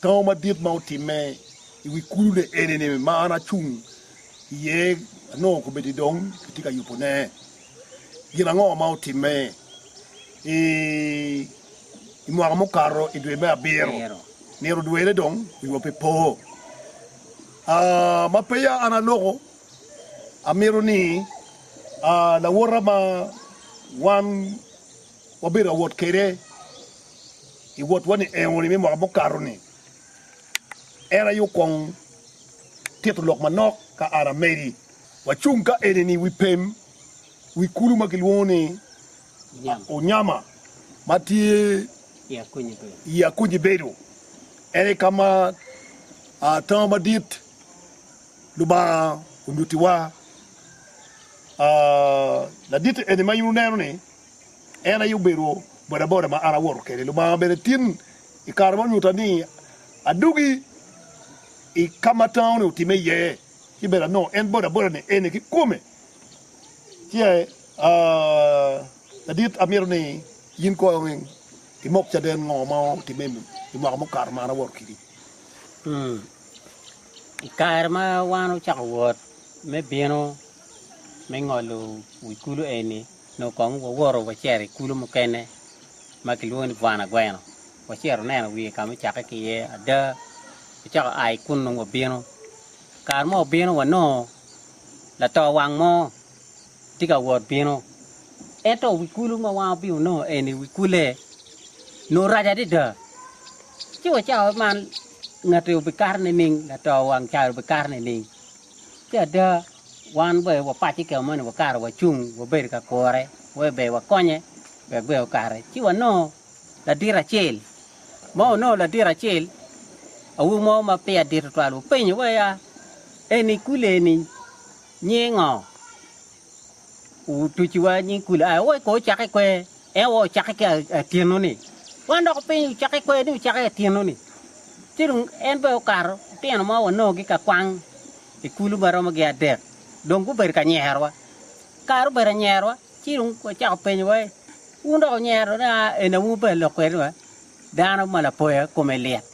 Tango madit ma otimme i wi kulune eni-ni ma an acung iye anongo kobedi dong kitye ka yubone. Gin ango ma otimme i mwaka mukato i dwe me abiro? Myero dwene dong wiwa pe po. Ma peya an aloko, amito ni lawota ma wan Wabedo ka wot kwede i wotwa-ni eno-ni me mwaka mukato-ni, en aye okwongo tito lok manok ka an amedi. Wacung ka eni-ni i wi pem wi kulu ma kilwongo ni Unyama ma tye i Akunyi Bedo. En aye ka ma tango madit Lubanga onyutiwa. Ladit-ti eni ma in wuneno-ni En aye obedo bodaboda ma an awoto kwede. Lubanga bene tin i kare ma onyutta ni adugi i ka ma tango-ni otimme iye, ci bene anongo en bodaboda-ni eni kikome. Ci ladit, amito ni in kono imok caden ngo ma otimme i mwaka mukato ma an awoto kwedi. I kare ma wan ocako wot me bino me ngolo wi kulu eni, Nyo kong wawoto wacito i kulu mukene ma kilwongo ni Bwana Gweno. Wacito waneno wiye ka ma ocakke ki iye. Ada, wacako a i kunnu wabino. Kare mo obino wanongo lato wang mo tye ka wot bino. Ento wi kulu ma wan wabino wanongo eni wi kulle nongo rac adada. Ci wacako waman ngati obikato nining, lato wang cayi obikato nining. Ci ada, Wan ber wapac i kema moni wakato wacung wabedo ka kure wek ber wakonye wek ber okare. Ci wanongo ladit acel ma onongo ladit acel awobi mo ma peya dit tutwal openyo wa ya eni kule eni nyinge ngo? Otuci wa nying kule aya wa ko ocake i kwer en wa ocake ki atyeno ni. Wan dok openyo ni ocake i kwer ni ocake i atyeno ni. Ci dong en ber okato otino ma wanongo gi ka kwang i kulu ma romo gin adek, dong gubedo ka nyerowa. Kare obedo anyerowa, ci dong wacako penyowa ni, 'Wun dok wunyero ni en aye wun obedo lok kwede wa? Dano ma lapoya kome lit!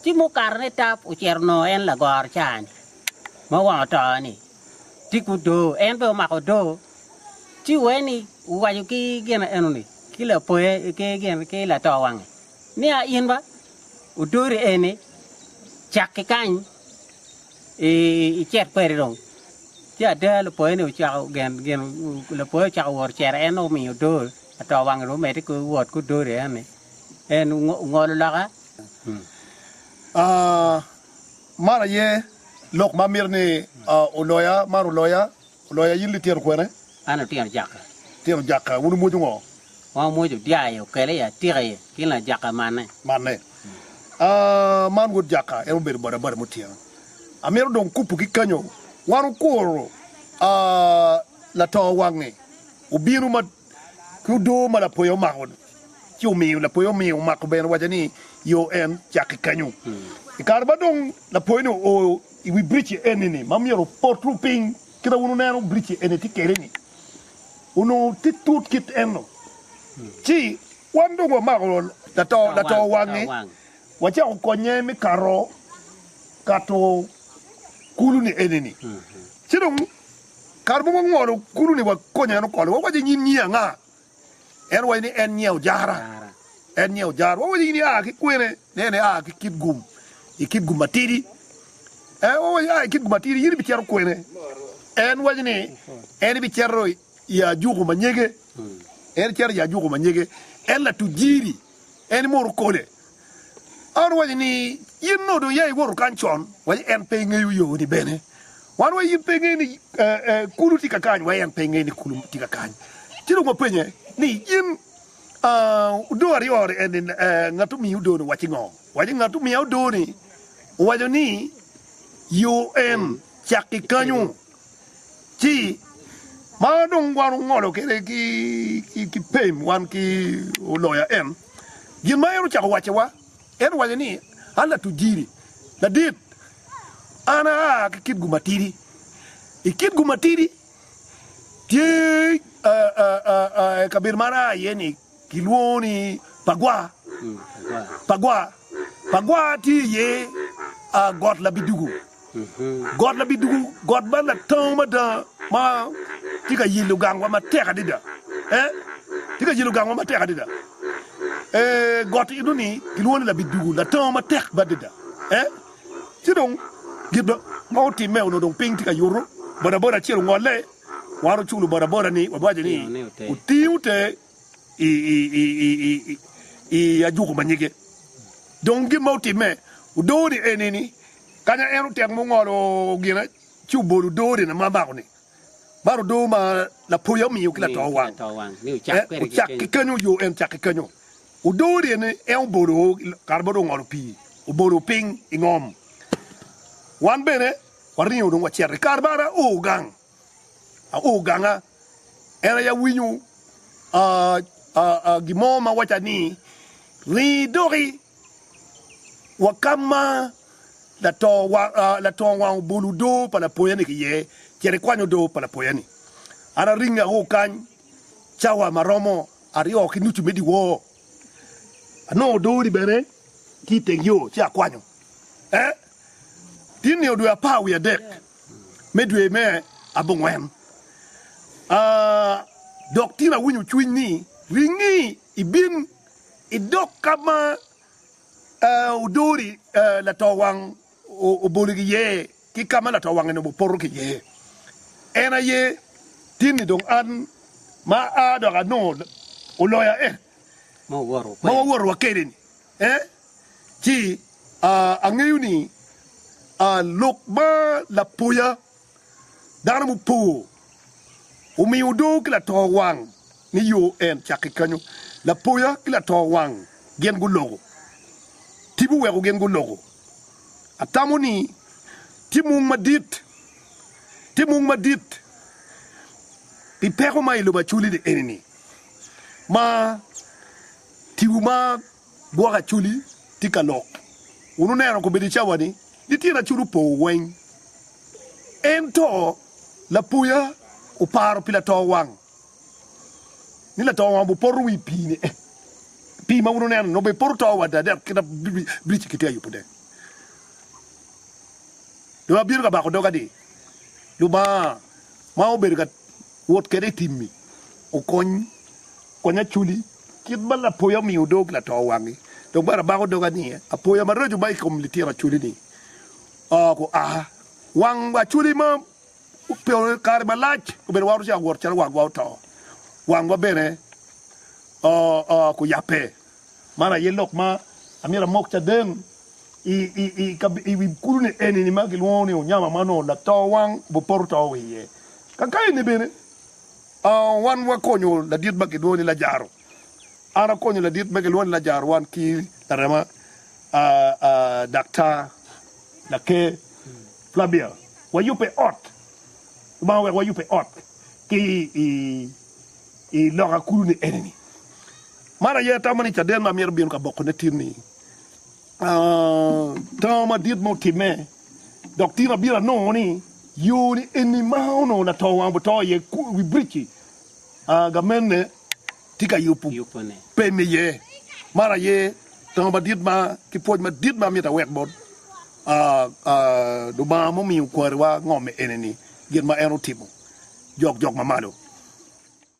Ci mukato ni tap ocito onongo en lagoro caa-ni ma wang oto-ni tye ki odoo, en bene omako odoo. Ci wee ni wuwaco ki gin eno-ni ki lapoya ki lato wange, niya, 'In ba, odori eni, cak ki kany. I cet padi dong, ci ada lupoyoni ocako gen gin lapoyo ocako wot cere en nongo omiyo odo ato wange dong omedde ki wot ki odo ryeo ni en ongo- ongolo loka. Ah, man aye lok ma amito ni ah, oloya, man oloya. Loya in litino kwene? An litino Jaka. Litino Jaka, wun wumwojo ngo? Wan wumwojo dyar aye okele i atika aye ki lna Jaka manne. Manne. Aah, man wod Jaka, en obedo boda boda mo tyeno. Amito dong kupu ki kanyo, wan wukuro aah, lato wange obino ma. ki odoo ma lapoya omako ci omiyo lapoya omiyo omako bene owaco ni yo en cak ki kenyo i kare ma dong lapoya ni oo i wi bridge eni ni ma myero oportu piny kita wun oneno bridge eni ti kede ni onongo ti tut kit eno ci wan dong wamako lato lato wangi wacako konye mi kato kato kulu ni eni ni ci dong Kara mogo ngolo kulu ni wakonye en okolo. Wawaco i nyim nyi anga? En owaco ni en nyie ojara. En nyie ojara. Wawaco in ia ki kwene? Ne en ia ki kit gum, i kit gum matidi. Eh, wawaco ia i kit gum matidi, in ibicito kwene? En waco ni en ibicito i ajuku ma nyege. En icito i ajuku ma nyege. En latuc jiri. En mono okole. An owaco ni, In nongo dong ya iwoto kany con, waci en pe ngeyo yo ni bene. Wan wa in pe ingeyo ni kulu tye ka kany, wa en pe ingeyo ni kulu tye ka kany. Ci dong wapenye ni, In odoo aryo ni eni ngat omiyi odoo ni owaci ngo? Owaci ngat omiya odoo ni owaco ni yo en cak ki kanyu. Ci ma dong wan ongolo kede ki pem wan ki oloya en, gin ma en ocako waccewa, en owaco ni, An latujiri madit, an aa ki kit gumatidi, i kit gumatidi tye kabedo ma an aa iye-ni. Kilwongo ni Pagwa. Pagwa Pagwa tye iye got labidugu. Got labidugu, got man latango mada ma tye ka yelo gangwa matek adada. Eh, tye ka yelo gangwa matek adada. Eh, got eno ni kilwongo ni labidugu, latango matek madada. Eh, ci dong gin ma otimme onongo dong piny tye ka yuto, bodaboda acel ongolle, Wan oculo bodaboda ni wawaco ni otingo te i ajuku ma nyige. Dong gin ma otimme odoo ni eni ni kanya en otek mungolo gina ci obolo odoo ni na mamako ni man odoo ma lapoya omiyo ki lato wang. Ocak ki kenyo yo en cak ki kenyo. Odoo ni eni en obolo kare ma dong ongolo pii obolo piny ingom. Wan bene Waringo dong wacito i kare mara oo gang, oo ganga. En aye awinyo gin mo ma waca ni ringo idoki wa ka ma latongo wang obolo odo pa lapoya-ni ki iye, cit ikwany odo pa lapoya-ni. An aringo ao kany cawa ma romo aryo ki nucu me dyewor, anongo odo-ni bene tye i teng yo ci akwanyo. I nio dwe apar wiye adek me dwe me abongwen, dok tin awinyo cwiny ni, Ringi ibin idog ka ma odori latowang oboli iye, ki ka ma latowang eni opoto ki iye. En aye tin-ni dong an ma aa dok anongo oloya en ma wawoto wa kwede-ni. e ci angeyo ni lok ma lapoya dano mupor omiyo odoo ki lato wang ni yo en cak ki kanyo. Lapoya ki lato wang gin guloko, tipo weko gin guloko. Atamo ni tye mung madit, tye mung madit pi peko ma i lobo Acholi ni eni ni ma Tiwu ma gwoko acholi tye ka lok. Wun wuneno kobedo i cawa ni, ni tyen acholi opo weng. Ento lapoya oparo pi lato wang, ni lato wang obupoto wi pii ni, pii ma wun wuneno ni nongo bene poto to wada dek kit ma biric-ci kitye ka yubo de. Dong abino ka bako doga ni, Lubanga ma obedo ka wot kwede i timmi. Okony, kony aculi, kit ma lapoya omiyo odog lato wangi, dok bene abako dogi aniye apoya maraco ma i kom litino aculi-ni. Oko a wang aculi ma ope kare malac, obedo waroco awot calo wangwa oto, wangwa bene oyabbe. Man aye lok ma amyero amok caden i wi kulune eni ma gilwongo ni Onyama ma onongo lato wang bu poto to wa iye. Ka kayeni bene wan wakonyo ladit ma gilwongo ni Lajaro. An akonyo ladit ma gilwongo ni Lajaro wan ki larema Daktar Laker Flavia. Wayubbe ot, Lubanga oweko wayubbe ot ki i I lok a kulu ni eni ni, man aye atamo ni caden ma myero bino ka boko ne tin ni tango madit mo time, dok tin abiro anongo ni yo ni eni ma onongo lato wang buto iye wi bridge-ci gamene tye ka yubo pe me iye. Man aye tango madit ma ki pwoc madit ma amyero awek bot Lubanga mumiyo kwariwa ngom eni ni gin ma en otimo jok jok mamalo.